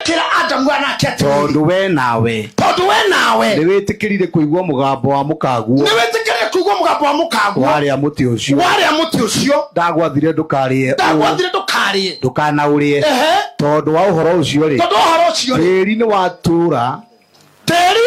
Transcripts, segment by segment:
kĩra adamu anake atĩrĩrĩ tondũ we nawe tondũ we nawe nĩ wĩtĩkĩrire kũigua mũgambo wa mũkaguo nĩ wĩtĩkĩrire kũigua mũgambo wa mũkanguo warĩa mũtĩ ũcio warĩa mũtĩ ũcio ndagwathire ndũkarĩe ũũ, ndagwathire ndũkarĩe ndũkanaũrĩe Ehe. tondũ wa ũhoro ũcio-rĩ tondũ ũhoro ũcio rĩ tĩri nĩ watũũra tĩri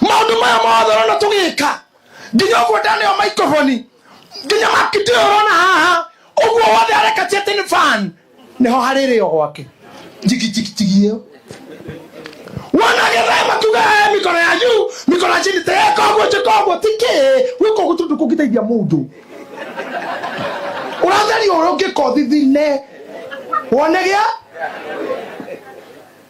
maundu maya mothe rona tugika nginya uguo ndaneo microphone nginya makiti uyu rona haha uguo wothe arekatia ati ni fan niho haririo gwake jigijigijigi iyo wanagethaya makuga "Eh, mikono ya juu mikono ya chini teeka uguo jika uguo tiki gwika uguo tundu kungiteithia mundu uratheria uria ungika uthithine wone gia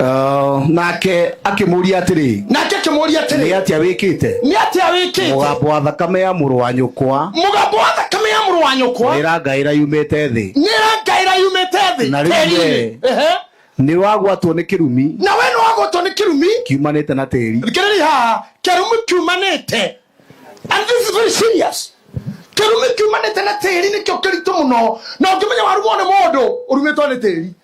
Oh, nake akĩmũria atĩrĩ nake akĩmũria nĩ atĩrĩ atĩa wĩkĩte nĩ atĩa wĩkĩte mũgambo wa thakame ya mũrũ wa nyũkwa mũgambo wa thakame ya mũrũ wa nyũkwa ĩrangaĩra yumĩte thĩ nĩ rangaĩra yumĩte thĩ Na rĩu tĩri-inĩ. we- Ehe. nĩ wagwatwo nĩ kĩrumi na we nĩ wagwatwo nĩ kĩrumi kiumanĩte na tĩri thikĩrĩria haha kĩrumi kiumanĩte and this is very serious kĩrumi kiumanĩte na tĩri nĩkĩo kĩritũ mũno na ũngĩmenya warumwo nĩ mũndũ ũrumĩtwo nĩ tĩri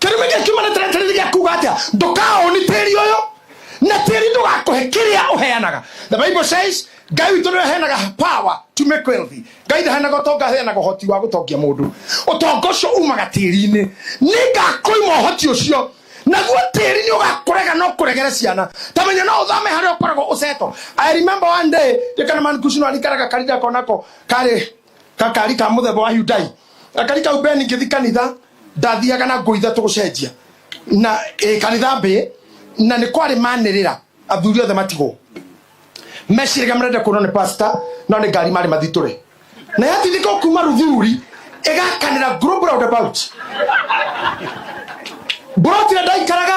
kĩrumi gĩa kiumana tĩrĩ tĩri gĩa kuga atĩa ndũkaũni tĩri ũyũ na tĩri ndũgakũhe kĩrĩa ũheanaga the bible says ngai witũ nĩwe heanaga power to make wealthy ngai ndaheanaga ũtonga aheanaga ũhoti wa gũtongia mũndũ ũtonga ũcio umaga tĩri-inĩ nĩngakũima ũhoti ũcio naguo tĩri nĩ ũgakũrega no kũregere ciana tamenya no ũthame harĩa ũkoragwo ũceto i remember one day ndikana man kucino alikaraga karida konako karĩ gakari ka muthemba wa Hyundai gakari kau ben ngĩthi kanitha ndathiaga na nguo ithatũ gũcenjia na ĩ kanitha mbĩ na nĩ kwarĩ manĩrĩra athuri othe matigwo meciragia marenda kuonwo nĩ pastor no nĩ ngari marĩ mathitũre na yatindĩka o kuma ruthuri ĩgakanĩra group roundabout mburoti ĩrĩa ndaikaraga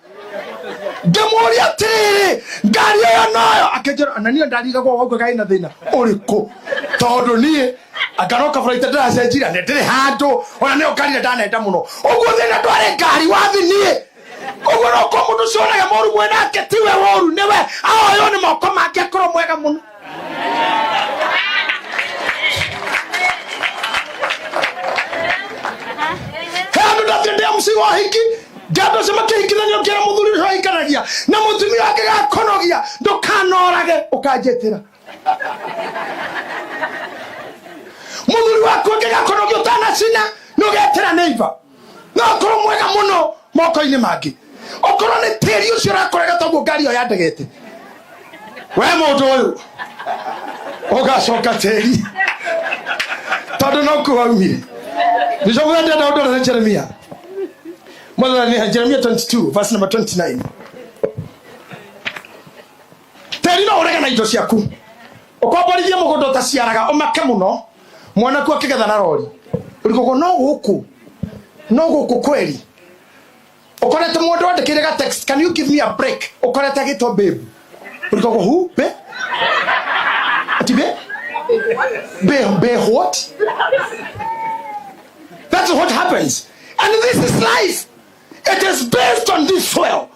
ngĩmũria atĩrĩrĩ ngari ĩyo nayo akĩnjĩra na niĩ ndarigagwo waugua gai na thĩna ũrĩkũ tondũ niĩ angaroka bara ita ndĩracenjira nĩ ndĩrĩ handũ ona nĩyo ngari ĩrĩa ndanenda mũno ũguo thĩna ndwarĩ ngari wathi niĩ ũguo no kwa mũndũ ũcio ũrĩa mũru mwĩ nake tiwe woru nĩwe ahoywo nĩ moko make akorwo mwega mũno handu ndathende msigo wa hiki ngendo cio makĩhikithania ũkĩra mũthuri ũcio ahikanagia na mũtumia wake gakonogia ndũkanorage ũkanjĩtĩra mũthuri waku ũngĩgakonogia ũtanacina nĩ ũgetĩra neiva no akorwo mwega muno moko-inĩ mangĩ okorwo nĩ tĩri ũcio ũrakorega toguo ngari ĩyo yandegete we mũndũ ũyũ ũgacoka tĩri tondå no kuo waumire bicobu wendenda å ndå rä jeremia mwathani jeremia 22 verse number 29 tĩri no ũrege na indo ciaku ũkomborithie mũgũnda ũtaciaraga ũmake mũno mwanaku akĩgetha na rori ũrigũkũ no gũkũ no gũkũ kweri ũkorete mũndũ wandĩkĩire ga text can you give me a break ũkorete agĩtwo babe ũrigũkũ hu be ati be be be what that's what happens and this is life it is based on this soil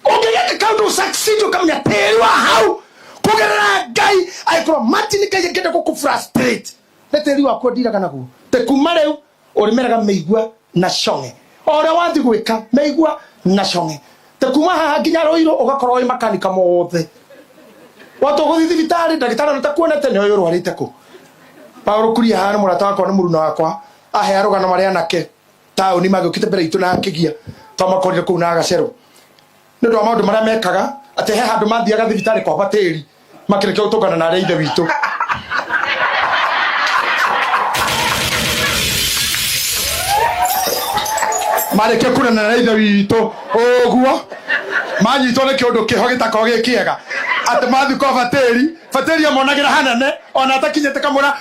ũngĩgeka kaũndũ ũsaksidio kamenya tĩĩrwa hau kũgerera ngai angĩkorwo mati nĩ ngai angĩenda gũkũ frustrate nĩ tĩĩri waku ndiraga naguo te kuma rĩu ũrĩmeraga mĩigua na cong'e o ũrĩa wathi gwĩka mĩigua na cong'e te kuma haha nginya rũirũ ũgakorwo wĩ makanika mothe watwo gũthi thibitarĩ ndagĩtarĩ ona takuonete nĩ ũyũ ũrwarĩte kũ paũrũ kuria haha nĩ mũrata wakwa nĩ mũruna wakwa ahe arũgano marĩa anake taũni magĩũkĩte mbere itũ na akĩgia twamakorire kũu na agacero nĩ ũndũ wa maũndũ marĩa mekaga atĩ he handũ mathiaga thibitarĩ kwamba tĩri makĩrĩkia gũtũngana na arĩa ithe witũ marĩkia kunana na ithe witũ ũguo manyitwo nĩ kĩũndũ kĩho gĩtakorwo gĩ kĩega atĩ mathiĩ kwa batĩri batĩri amonagĩra hanene ona atakinyĩte kamũra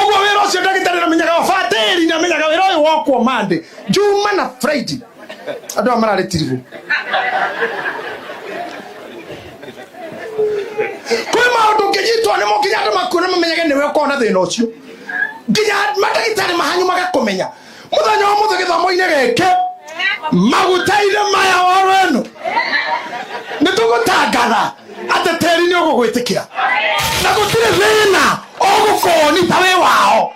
ũguo wĩra ũcio ndagĩtarĩ namenyaga wabatĩri namenyaga wĩra ũyũ wokwo mande njuma na friday andũ aya mararĩ tiribũ kwĩ maũndũ ũngĩnyitwo nĩmo nginya andũ makuona mamenyage nĩwe ũkorwo na thĩna ũcio nginya mandagĩtarĩ mahanyu magakũmenya muthenya wa muthe githomo-ini giki maguta-ini maya oro eno ni tugutangatha ati teri ni ugugwitikira na gutiri thina ugukoni ta wi wao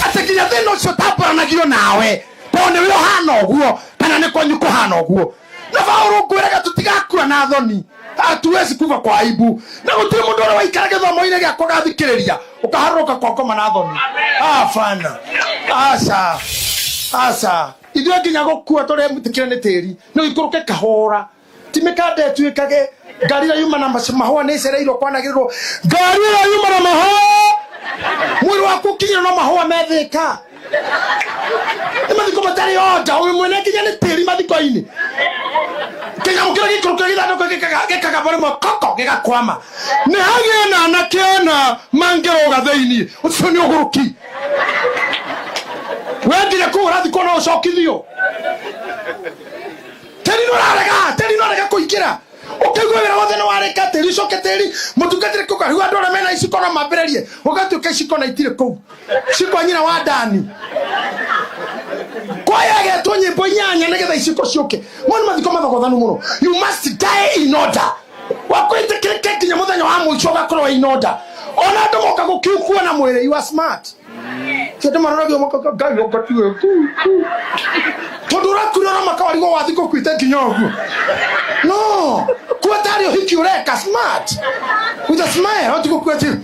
ati nginya thina ucio tamburanagio nawe tondu ni wi uhana uguo kana ni kwanyu kuhana uguo na baũrũ ngwĩraga tũtigakua na thoni hatuwezi kuva kwa aibu na gũtirĩ mũndũ ũrĩa waikara gĩthomo-inĩ gĩakwa gathikĩrĩria ũkaharũrũka kwa ngoma na thoni abana aca aca ithuĩ nginya gũkua tũrĩa mũtikĩre nĩ tĩri no ikũrũke kahũra timĩka ndetuĩkage ngari ĩrĩa yuma na mac- mahũa nĩ ĩcereirwo kwanagĩrĩrwo ngari ĩrĩa yuma na mahũa mwĩrĩ waku ũkinyĩrwo no mahũa methĩka nä mathiko matarä oda å mwene nginya nä tä ri mathiko-inä kĩnyamũ kĩrĩa gĩikũrũkaga gĩthandũkũ gĩkaga- gĩkagamba rĩmwe koko gĩgakwama nĩ hagĩe na anake ana mangĩrũga thĩinĩ ũcio nĩ ũgũrũki we nginya kũu ũrathikwo no ũcokithio tĩri nĩ ũrarega tĩri nĩ ũrarega kũingĩra ũkaigua wĩra wothe nĩ warĩka tĩri ũcoke tĩri mũtungatĩre kũu kariu andũ arĩa mena iciko no mambĩrĩrie ũgatuĩka iciko na itirĩ kũu cikwa nyina wa dani kwaya getwo nyimbo inyanya nigetha iciko ciuke moni mathiko mathogothanu muno you must die in order wakwĩtĩkĩrĩke nginya mũthenya wa mũico ũgakorwo wĩ in order ona andũ moka gũkiukua na mwĩrĩ you are smart ti andũ maroragio makaga ngai ũkatiwe tondå ũrakuire ona makawarigwo wathi kå kuite nginya å guo no kuo tarä å hiki å reka smart with a smile wati gå kuä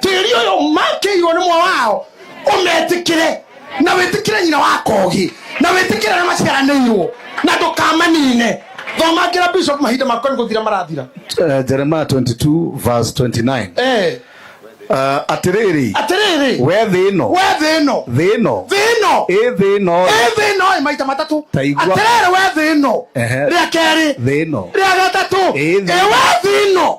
tĩri ũyũ makĩirwo nĩ mwa wao ũmetĩkĩre na wĩtĩkĩre nyina wa kogi na wĩtĩkĩre arĩa maciaranĩirwo na ndũkamanine thoma ngĩra bishop mahinda makwa nĩ gũthira marathira Eh, jeremiah 22 verse 29 Eh, uh, atĩrĩrĩ atĩrĩrĩ we thĩ ĩno we thĩ ĩno thĩ ĩno thĩ ĩno ĩ thĩ ĩno ĩ thĩ ĩno ĩ maita matatũ Ta igua. atĩrĩrĩ we thĩ ĩno Ehe. rĩa kerĩ thĩ ĩno rĩa gatatũ Ĩ thĩ ĩ we thĩ ĩno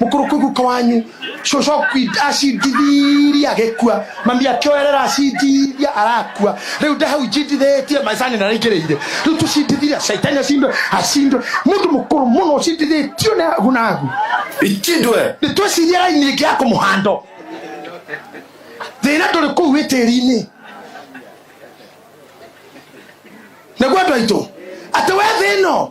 Mũkũrũku guka wanyu cũcũ akui- acindithiria agĩkua mami akĩoerera acindithia arakua rĩu nde hau njindithĩtie maicani na raingĩrĩire rĩu tũcindithiria caitani acindwe acindwe mũndũ mũkũrũ mũno ũcindithĩtio nĩ agu na agu Ichindwe. nĩ twĩciria raini ĩngĩ ya kũmũhando thĩna ndũrĩ kũu wĩ tĩri-inĩ naguo andũ aitũ atĩ we thĩno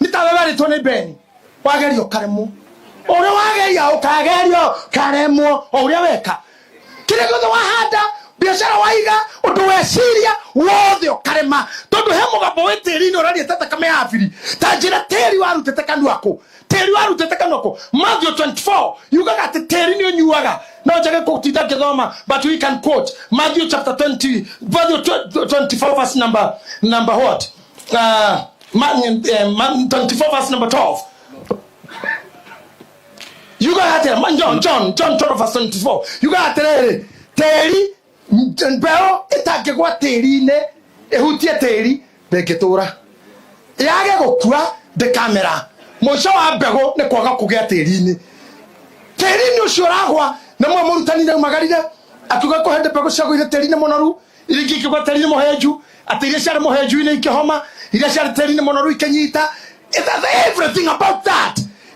nĩ ta we werĩtwo nĩ beni wageria ũkaremwo ũrĩa wageria ũkagerio karemwo o ũrĩa weka kĩrĩa gĩothe wahanda biacara waiga ũndũ weciria wothe ũkarema tondũ he mũgambo wĩ tĩri-inĩ ũraria ta thakame ya biri ta njĩra tĩri warutĩte kanua kũ tĩri warutĩte kanua kũ Matthew 24 yugaga atĩ tĩri nĩ ũnyuaga no njage kũtinda ngĩthoma but we can quote Matthew chapter 20 Matthew 24 verse number number what Uh, man, uh, man 24 verse number 12. You got to tell man John, John, John 12 verse 24. You got to tell him, Terry, Bell, itangĩgwa tĩri-inĩ ĩhutie tĩri ndĩngĩtũra yage gũkua ndĩkamera mũico wa mbegũ nĩ kwaga kũgĩa tĩri-inĩ tĩri-inĩ ũcio ũragwa nĩmwe mũrutani naumagarire akiuga kũhende mbegũ ciagũire tĩri-inĩ mũnoru iria ingĩ ikĩgwa tĩri-inĩ mũhenju atĩ iria ciarĩ mũhenju-inĩ ikĩhoma iria ciarĩ tĩri-inĩ mũnoru ikĩnyita It has everything about that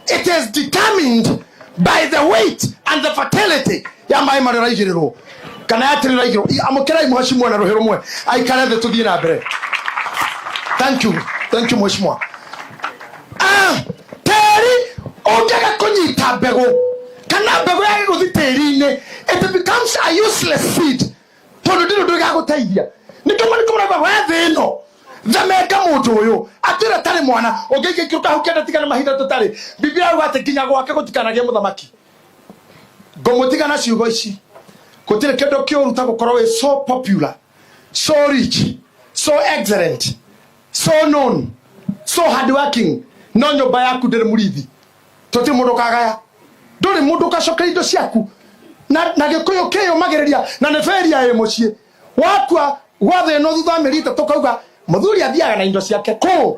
it is determined by the weight and the fertility ya maĩ marĩa ũraigĩrĩrwo kana ya tĩri ũraigĩrwo amũkĩrai mũhaci mwe na rũhĩ rũmwe aikare thĩ tũthiĩ na mbere thank you thank you mheshimiwa Ah, tĩri ũngĩaga kũnyita mbegũ kana mbegũ yage gũthi tĩri-inĩ it becomes a useless seed tondu ndiru ndu igaguteithia nikama nikumurega we thi no themenga mundu uyu atira tari mwana ungiingia ikiru kahu kenda tigana mahinda tutari biblia uga ati nginya gwake gutikanagie muthamaki ngumutigana ciugo ici gutire kindu kiuru ta gukorwo wi so popular so rich so excellent so known so hardworking no nyumba yaku ndiri murithi toti mundu kagaya nduri mundu kacoka indo ciaku na na gikuyu kiyumagiriria na ni feria ĩ mucii wakua gwa thĩ ĩno thutha wa mĩeri ĩtatũ kauga mũthuri athiaga na indo ciake kũ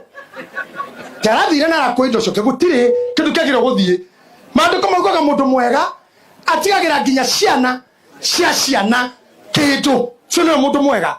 tarathire na arakua indo ciake gũtirĩ kĩndũ kĩagĩrĩire gũthiĩ maandĩko maugaga mũndũ mwega atigagĩra nginya ciana cia ciana kĩndũ cio nĩwe mũndũ mwega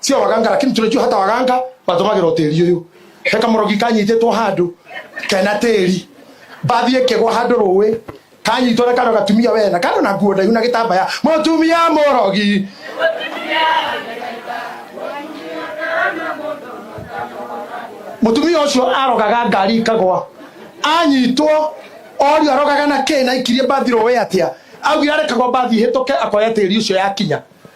sio waganga lakini tunajua hata waganga matũmagĩra ũtĩri ũyũ he kamũrogi kanyitĩtwo handũ kena tĩri mbathi ĩkĩgwa handũ rũĩ kanyitwo na kano gatumia wena kano na nguo ndaihu na gĩtambaya mũtumia mũrogi mutumia ucio arogaga ngari ikagwa anyitwo orio arogaga na kĩ na ikirie mbathi rũĩ atia augire arekagwo mbathi hĩtũke akoya tĩri ucio yakinya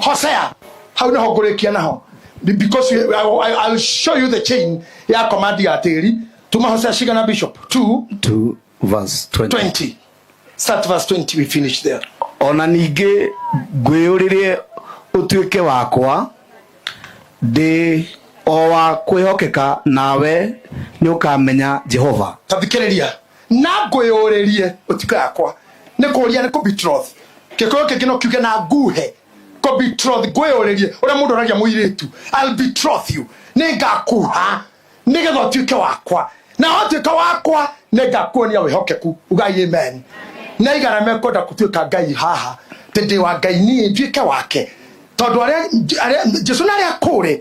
hosea hau nä ho ngå rä kia naho because we, I, I, I'll show you the chain ya command ya tĩri tuma hosea cigana bishop 2 2 verse 20 20 start verse 20 we finish there ona ningĩ ngwĩyũrĩrie ũtuĩke wakwa ndĩ o wa kwĩhokeka nawe nĩ ũkamenya jehova tathikĩrĩria na ngũyũrĩrie ũtiko yakwa nĩ kũria nĩ kũbitroth gĩkũyũ kĩngĩ no kiuge na nguhe kũbitroth ngũyũrĩrie ũrĩa mũndũ aragia mũirĩtu I'll betroth you nĩ ngakuha nĩgetha ũtuĩke wakwa na watuĩka wakwa nĩ ngakuonia wĩhokeku ugai amen na igana mekwenda gũtuĩka ngai haha tĩ ndĩ wa ngai niĩ nduĩke wake tondũ arĩa arĩa- jesu na arĩa kũrĩ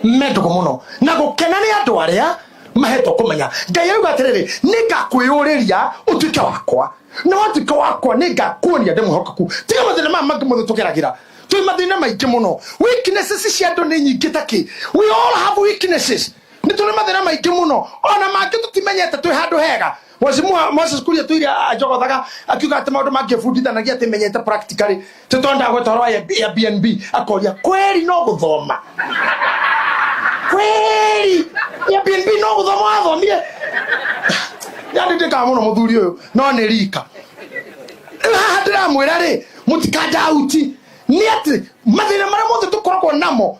me ndũgũ mũno na gũkena nĩ andũ arĩa mahetwo kũmenya ngai arauga atĩrĩrĩ nĩngakwĩyũrĩria ũtuĩke wakwa na watuĩka wakwa nĩngakuonia ndĩ mwĩhokeku tiga mathĩna maya mangĩ mothe tũgeragĩra twĩ mathĩna maingĩ mũno weaknesses cia andũ nĩ nyingĩ ta kĩ we all have weaknesses nĩ tũrĩ mathĩna maingĩ mũno ona mangĩ tũtimenyete twĩ handũ hega Mheshimiwa Moses Kuria Tuiri ajogothaga akiuga atĩ maũndũ mangĩbundithanagia atĩ menyete practically tũtondaga gũtwarwo ya ya BNB akoria kweri no gũthoma kweri ya BNB no gũthoma wathomire yandĩtĩkaga mũno mũthuri ũyũ no nĩ rika rĩu haha ndĩramwĩra rĩ mũtikanjauti nĩ atĩ mathĩna marĩa mothe tũkoragwo namo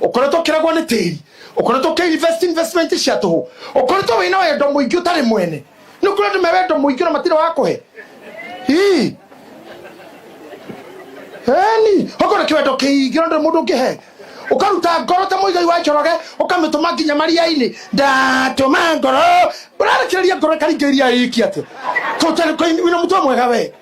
ũkoretwo ũkĩragwo nĩ tĩri ũkoretwo ũkĩinvest investment cia tũhũ ũkoretwo wĩna wendo mũingĩ ũtarĩ mwene nĩ ũkũrĩ andũ me wendo mũingĩ na matirĩ wa kũhe Ii. Eni, ũkorwo kĩwendo kĩingĩ na ndũrĩ mũndũ ũngĩhe ũkaruta ngoro ta mũigai wa njoroge ũkamĩtũma nginya maria-inĩ ndatũma ngoro ũrarekereria ngoro ĩkaringĩrĩria ĩki atĩ kũina mũtwe mwega we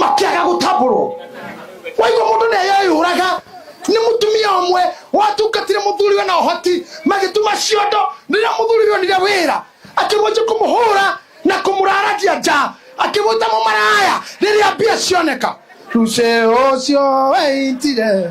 makĩaga gũtambũrwo waigua mũndũ nĩ eyeyũraga nĩ mũtumia ũmwe watungatire mũthuriwe na ũhoti magĩtuma ciondo rĩrĩa mũthuriwe onire wĩra akĩmwanjia kũmũhũra na kũmũraragia nja akĩmwĩta mũmaraya rĩrĩa mbia cioneka rucĩ ũcio weitire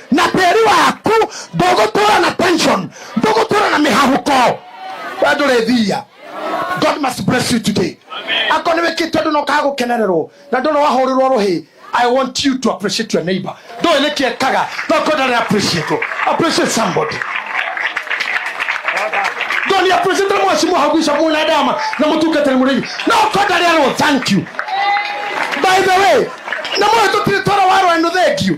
na tĩri waku ndũgũtũra na tension ndũgũtũra na mĩhahũko we ndũrĩ thia god must bless you today akorwo nĩ wĩkĩte ũndũ na ũkaga gũkenererwo na ndũrĩ wahũrĩrwo rũhĩ I want you to appreciate your neighbor. Ndũĩ nĩkĩ ekaga, no kwenda ndarĩ appreciate. Appreciate somebody. Ndũĩ nĩ appreciate mwasi mũhaguica mwĩna ndama na mũtungatĩri mũrĩi. No kwenda ndarĩ arwo thank you. By the way, na mũĩ tũtirĩ twara warwa nĩ thank you.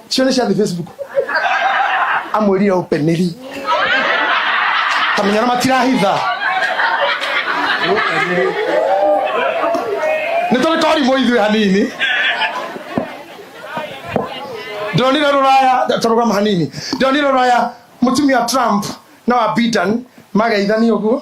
Share share the Facebook. Amwĩrire ũpeneri. Kamenya na matirahitha. Nĩ tũrĩ twarimũ ithuĩ hanini. Ndonire rũraya tũrũgama hanini. Ndonire rũraya mũtumia Trump na wa Biden mageithani ũguo.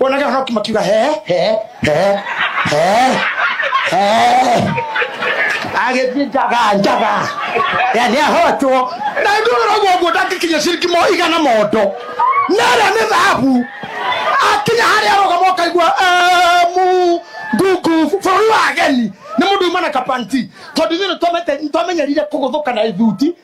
wonage hau makiuga he he he he he agĩthiĩ njaga njaga ya nĩ ahotwo na ndũrĩra ũguo nguo ndangĩkinya ciringi mo igana mondo na ĩrĩa nĩ thahabu akinya harĩa arũgama ũkaigua "Eh, mu ngungu bũrũri wa ageni nĩ mũndũ uma na kapanti tondũ ithuĩ nĩ twamete- nĩ twamenyerire kũgũthũka na ithuti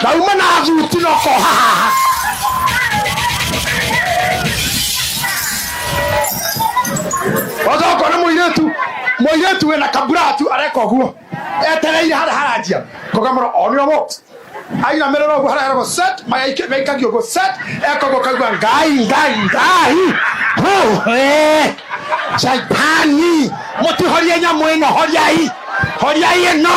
ndauma na thuti noko haha oza ũkona mũirĩtu mũirĩtu wĩna kamburatu areka ũguo etereire harĩa haranjia kogamũra onio mo ainamĩrĩra ũguo harĩa heragwo set magaikĩ- gaikagio ũguo set eka ũguo kaigua ngai ngai ngai Hũ, eh, shaitani mũtihorie nyamũ ĩno horiai horiai ĩno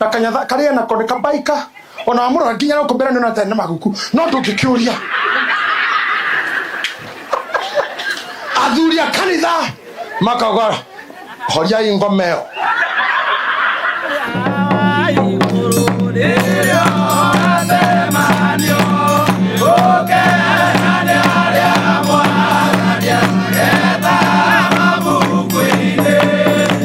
na kanyatha karĩa nako nĩ kabaika ona wamũrora nginya gũkũ mbere nĩona tene maguku no ndũngĩkĩũria athuri a kanitha makauga horiai ngoma ĩyo